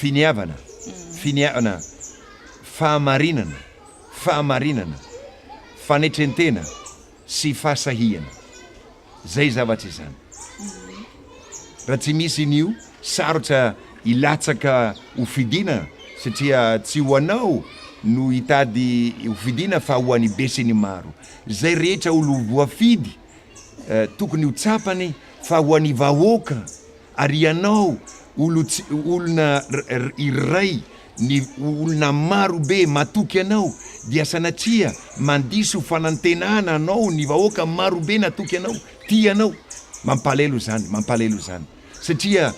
Finiavana, finiavana, fahamarinana, fahamarinana, fanetrentena sy fahasahiana. Zay zavatra izany. Raha tsy misy an'io, sarotra hilatsaka ho fidina satria tsy ho anao no hitady ho fidina fa ho an'ny besinimaro. Zay rehetra olo voafidy tokony ho tsapany fa ho an'ny vahoaka ary ianao olona iray ny olona marobe matoky anao dia sanatria mandiso fanantenana anao ny vahoaka marobe natoky anao, tia anao. Mampalahelo izany, mampalahelo izany satria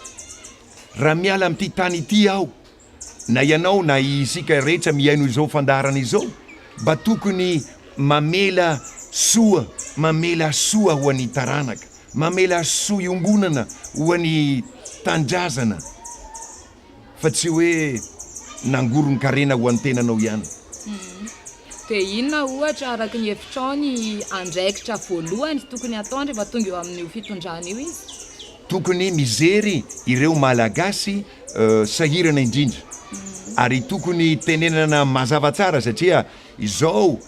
raha miala amin'ity tany ity aho, Na ianao na isika rehetra mihaino izao fandaharana izao mba tokony mamela soa, mamela soa ho an'ny taranaka, mamela soa iombonana ho an'ny Tanindrazana fa tsy hoe nangoron-karena ho an-tenanao ihany. Dia inona ohatra araka ny hevitrao ny andraikitra voalohany tokony hataony rehefa tonga eo amin'io fitondrana io izy? Tokony mijery ireo Malagasy sahirana indrindra ary tokony tenenana mazava tsara satria izao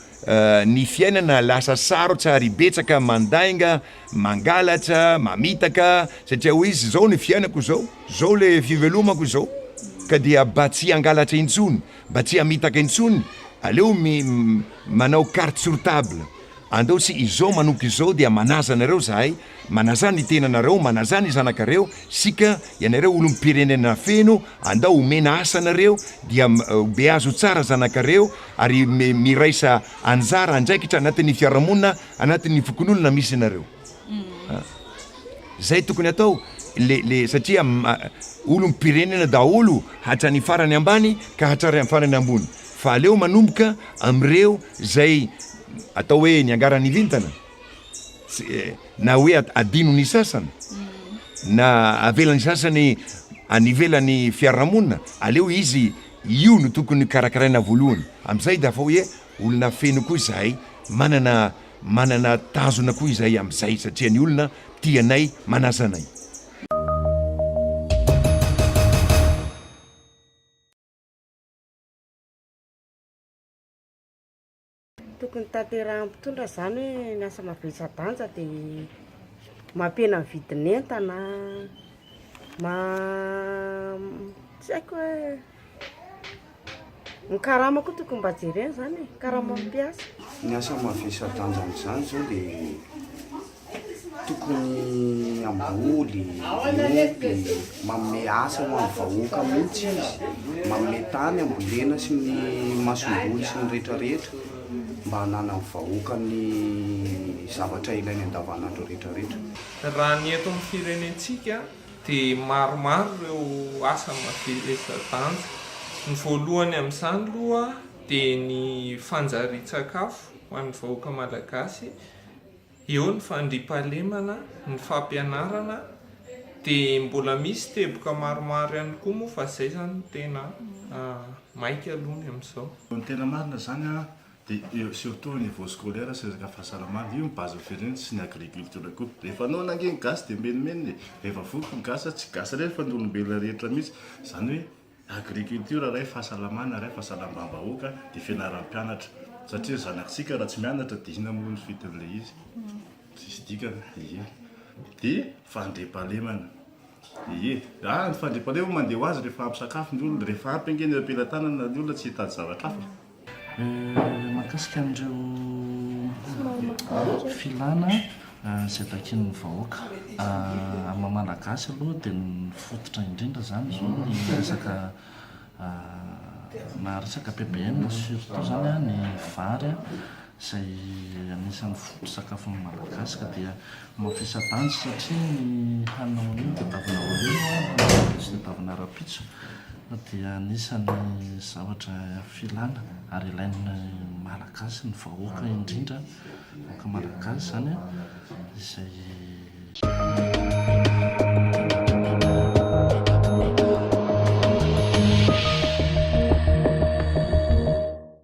ny fiainana lasa sarotra ary betsaka mandainga, mangalatra, mamitaka satria hoe izy zao ny fiainako zao, zao le fivelomako zao ka dia mba tsy hangalatra intsony, mba tsy hamitaka intsony aleo manao carte sur table, andao tsy izao manomboka izao dia manaja anareo zahay. Manaza ny tenanareo, manaza ny zanakareo, sika ianareo olom-pirenena feno, andao omena asa anareo, dia beazo tsara zanakareo, ary miraisa anjara, andraikitra anatin'ny fiarahamonina, anatin'ny fokonolona misy anareo. Zay tokony atao, le, le, satria olom-pirenena daholo hatrany farany ambany ka hatrary farany ambony, fa aleo manomboka amreo zay atao hoe niangaran'ny vintana. Tsy, na hoe adino ny sasany, na avela ny sasany any ivelan'ny fiarahamonina, aleo izy io no tokony karakaraina voalohany. Amin'izay dia afa hoe olona feno koa izahay, manana, manana tanjona koa izahay amin'izay satria ny olona tia anay, manasa anay. Tokony tanterahin'ny mpitondra izany hoe ny asa mavesa-danja dia mampihena ny vidin'entana, tsy haiko hoe, ny karama koa tokony mba jerena izany e, ny karaman'ny mpiasa. Ny asa mavesa-danja amin'izany izao dia tokony hamboly, miompy, manome asa ho an'ny vahoaka mihitsy izy, manome tany hambolena sy ny masomboly sy ny rehetra rehetra mba hananan'ny vahoaka ny zavatra ilainy andavanandro rehetra rehetra. Raha ny eto amin'ny firenentsika dia maromaro ireo asa mavelombelon-danja. Ny voalohany amin'izany aloha dia ny fanjarian-tsakafo ho an'ny vahoaka malagasy. Eo ny fandriampahalemana, ny fampianarana dia mbola misy teboka maromaro ihany koa moa fa izay izany no tena maika aloha ny amin'izao. Ny tena marina izany dia surtout au niveau scolaire sy resaka fahasalamana, io no base firenena sy ny agriculture koa. Rehefa noana ange ny gasy dia menomenona e! Rehefa voky ny gasy, tsy gasy irery fa ny olombelona rehetra mihitsy. Izany hoe Agriculture iray fahasalamana iray fahasalambam-bahoaka dia fianaram-pianatra satria ny zanak'tsika raha tsy mianatra dia inona moa ny fidin'ilay izy? Tsisy dikany ie. Dia fandriampahalemana ie. Ah ny fandriampahalemana mandeha ho azy rehefa ampy sakafo ny olona, rehefa ampy ange ny eo am-pelatanana ny olona tsy hitady zavatra hafa. Mahakasika an'ireo filàna izay takian'ny vahoaka amin'ny maha malagasy aloha dia ny fototra indrindra izany izao ny resaka na resaka PBM surtout izany ny vary izay anisan'ny foto-tsakafon'ny Malagasy ka dia mafisa-danja satria ny hanina maninona tadiavina ho lena na hanina maninona tadiavina rahampitso fa dia anisan'ny zavatra filana ary ilain'ny Malagasy, ny vahoaka indrindra, ny vahoaka Malagasy izany izay.